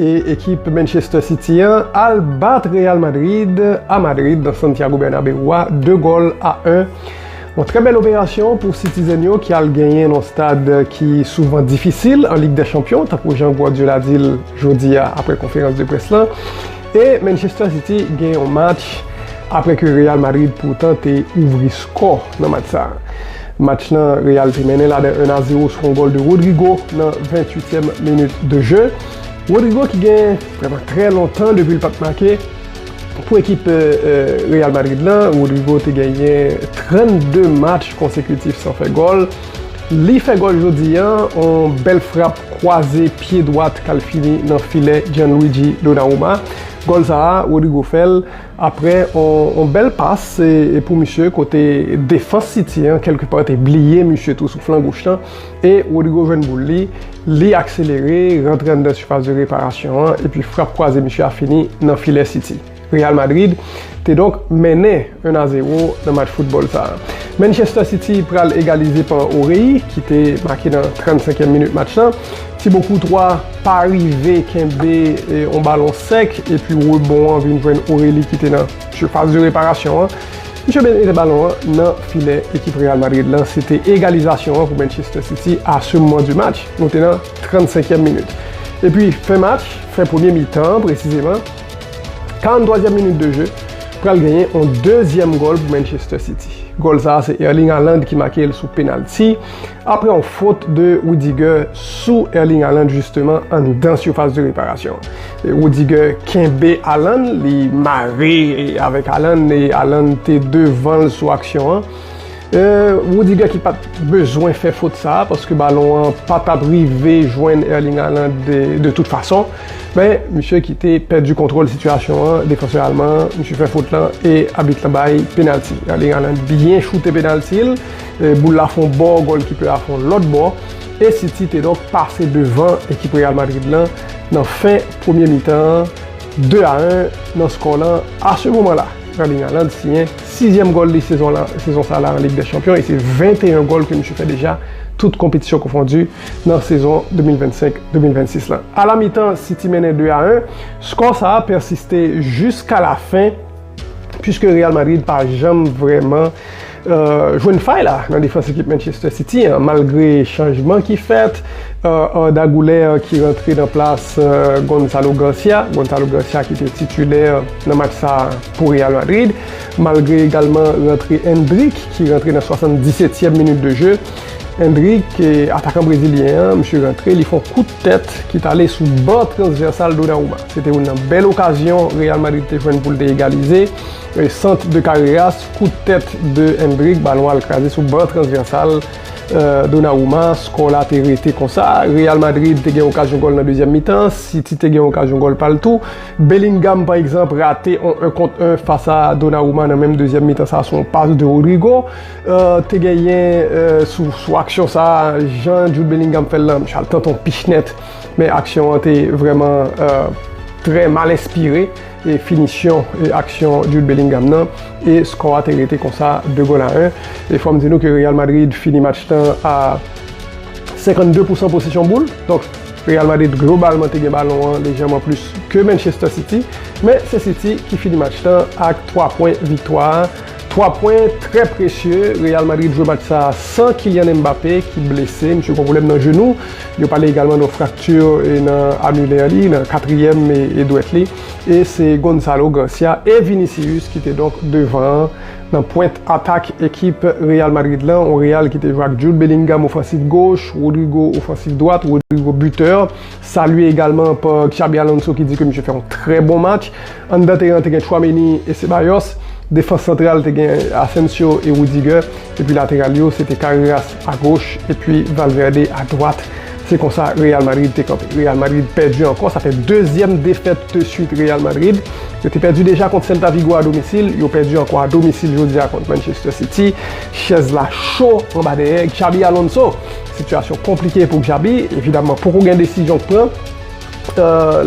E ekip Manchester City an al bat Real Madrid a Madrid nan Santiago Bernabeu a 2 gòl a 1. Yon trè bèl operasyon pou Citizen yo ki al genyen nan yon stad ki souvan difisil an Lig dè Chanpyon tankou jan Guardiola di l jodi a aprè konferans de près lan. E Manchester City gen yon match aprè ke Real Madrid poutan te ouvri skò nan match sa. Match nan Real te mennen la de 1 a 0 sou yon gòl de Rodrygo nan 28 tièm minit de je. Rodrygo ki gen vrèman trè lontan depi l pat make pou ekip Real Madrid lan. Rodrygo te genyen 32 match konsekitif san fè gòl. Li fè gòl jodi an, yon bèl frap kwaze pye dwat k al fini nan filè Gianluigi Donnarumma. Gòl sa a, Rodrygo fè l Aprè yon bèl pas pou misye kote defans City an kèlke pa te bliye misye tou sou flan goch lan e Rodrygo jwenn boul li, li akselere rantre anndan sipas de reparasyon an epi frap kwaze misye a fini nan filè City. Real Madrid te donk mennen 1 a 0 nan match foutbòl sa. Manchester City pral egalize pa Orei ki te make nan 35 èm minit match lan. Thibaut Courtois pa rive kenbe yon balon sèk epi rebon an vin jwenn Aurélie ki te nan sifas de reparasyon an. Misye mete balon an nan filè ekip Real Madrid lan. Se te egalizasyon an pou Manchester City a se moman di match. Nou te nan 35 èm minit. Epi fen match, fen premye mitan an presizeman, 43 èm minit de je, pral genyen yon dezyèm gòl pou Manchester City. Gòl sa a se Erling Haaland ki make l sou penalti. Aprè yon fot de Rudiger sou Erling Haaland jisteman anndan sifas de reparasyon. Rudiger kenbe Haaland, li mare avèk Haaland e Haaland te devan l sou aksyon an. Rudiger ki pat bezwen fè fot sa a paske balon an pa tap rive jwenn Erling Haaland de tout fason. Men, misye ki te pèdi kontwòl sitiyasyon an, defansè alman an, misye fè fot lan e abit lan bay penalti. Erling Haaland byen choute penalti l. Boul la fon bò, gòlkipè a fon lòt bò e City te donk pase devan ekip Real Madrid lan nan fen premye mitan an 2 a 1 nan skò lan. A se moman la, Erling Haaland siyen sizyèm gòl li sezon sa la an Lig dè Chanpyon e se 21 gòl ke misye fè deja tout konpetisyon konfondi nan sezon 2025, 2026 lan. A la mitan, City mennen 2 a 1. Skò sa a pèsiste jiska lafen pwiske Real Madrid pa janm vrèman. Jwenn fay la nan defans ekip Manchester City an malgre chanjman ki fèt, Arda Güler ki rantre nan plas Gonzalo Garcia, Gonzalo Garcia ki te titulè nan match sa pou Real Madrid, malgre egalman rantre Endrick ki rantre nan 77èm minit de je. Endrick, atakan brezilyen an, misye rantre, li fè yon kout tèt ki t ale sou bò transvèsal Donnarumma. Se te youn nan bèl okazyon Real Madrid te jwenn pou l te egalize, sant de Carreras. Kout tèt de Endrick, balon al kraze sou ban transvèsal Donnarumma, skò la te rete konsa. Real Madrid te gen okazyon gòl nan dezyèm mitan, City te gen okazyon gòl pa l tou. Bellingham pa egzanp rate on 1 kont 1 fas a Donnarumma nan menm dezyèm mitan sa sou on pas de Rodrygo. Te genyen sou aksyon sa jan Jude Bellingham fè l lan, msye al tante on pich nèt men aksyon an te vrèman trè mal enspire. E finisyon e aksyon Jude Bellingham nan e skò a te rete konsa 2 gòl a 1. E fòm di nou ke Real Madrid fini match nan a 52 pousan posesyon boul. Donk Real Madrid globalman te gen balon an lejeman plis ke Manchester City. Men se City ki fini match nan ak 3 pwen viktwa a. 3 pwen trè presye, Real Madrid jwe match sa san Kylian Mbappé ki blese, misye gon pwoblèm nan jenou, yo pale egalman de frakti nan amilè li, nan katriyèm dwèt li, e se Gonzalo Gracia e Vinicius ki te donk devan an nan pwent atak ekip Real Madrid lan, on Real ki te jwe ak Jude Bellingham ofansif goch, Rodrygo ofansif dwat, Rodrygo bitè. Salye egalman pa Xabi Alonso ki di ke misye fè yon trè bon match. Anndan teren te gen Tchouaméni e Ceballos. Defans santral te gen Asensio e Rudiger. Epi lateral yo se te Carreras a goch epi Valverde a dwat. Se konsa Real Madrid te kanpe. Real Madrid pèdi ankò. Sa fè dezyèm defèt de swit Real Madrid. Yo te pèdi deja kont Celta Vigo a domisil. Yo pèdi ankò a domisil jodi a kont Manchester City. Chèz la cho anba dèyè Xabi Alonso. Sitiyasyon konplike pou Xabi, evidaman poko gen desizyon k pran.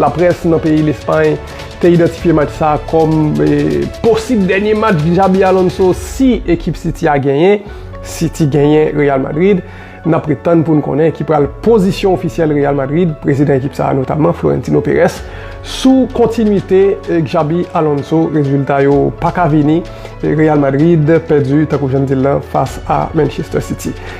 Laprès nan peyi Lespay te idantifye match sa kòm posib dènye match Xabi Alonso si ekip City a genyen. City genyen Real Madrid, n ap ret tann pou n konnen ki pral pozisyon ofisyèl Real Madrid, prezidan ekip sa notamman Florentino Perez sou kontinwite Xabi Alonso. Rezilta yo paka vini, Real Madrid pèdi tankou jan n di l lan fas a Manchester City.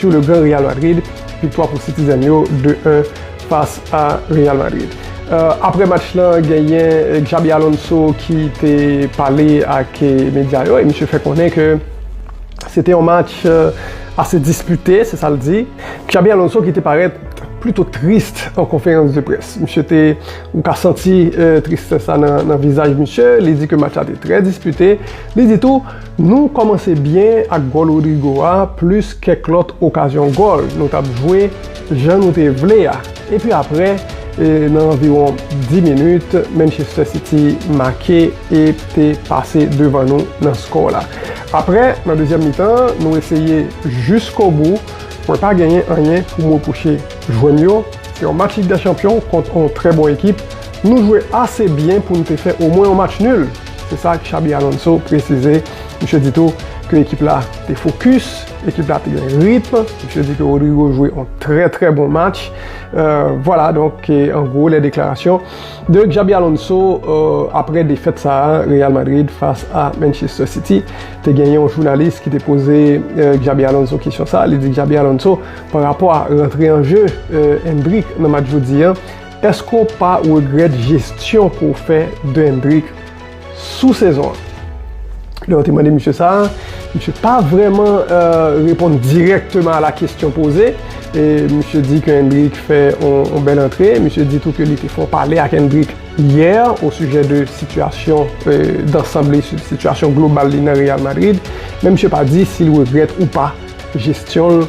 Sur le grand Real Madrid, viktwa pou Citizen yo 2 1 fas a Real Madrid. Aprè match lan genyen Xabi Alonso ki te pale ak medya yo e misye fè konnen ke se te yon match ase dispite, se sa l di. Xabi Alonso ki te parèt plito trist an konferans de près. Misye te, ou ka santi tristès la nan vizaj misye, li di ke match la te trè dispite, li di tou, Nou kòmanse byen ak gòl Rodrygo a plis kèk lòt okazyon gòl nou tap jwe jan nou te vle a epi aprè nan anviwon 10 minit Manchester City make e te pase devan nou nan skò la. Aprè nan dezyèm mitan nou eseye jiskobou mwen pa genyen anyen pou m repwoche jwè m yo se yon match Lig dè chanpyon kont yon trè bon ekip nou jwe ase byen pou n te fè omwen yon match nil. Se sa Xabi Alonso presize. Misye di tou ke ekip la te fokis, ekip la te gen ritm. Misye di ke Rodrygo jwe yon trè trè bon match. Vwala donk an gwo lè deklarasyon de Xabi Alonso apre defèt sa a Real Madrid fas a Manchester City. Te gen yon jounalis ki te poze Xabi Alonso kesyon sa a. Li di Xabi Alonso pa rapò a rantre an je Endrick nan match jodi a. Eske w pa regrèt jesyon ke w fè Dendrick sou sezon an? Lè yo te mande misye sa, misye pa vrèman reponn dirèkteman a la kesyon poze. Misye di ke Endrick fè yon bèl antre. Misye di tou ke li te fè yon pale ak Endrick yè o sijè de sitiyasyon dansanb li, sitiyasyon global li nan Real Madrid. Men misye pa di si l regrèt ou pa jesyon l.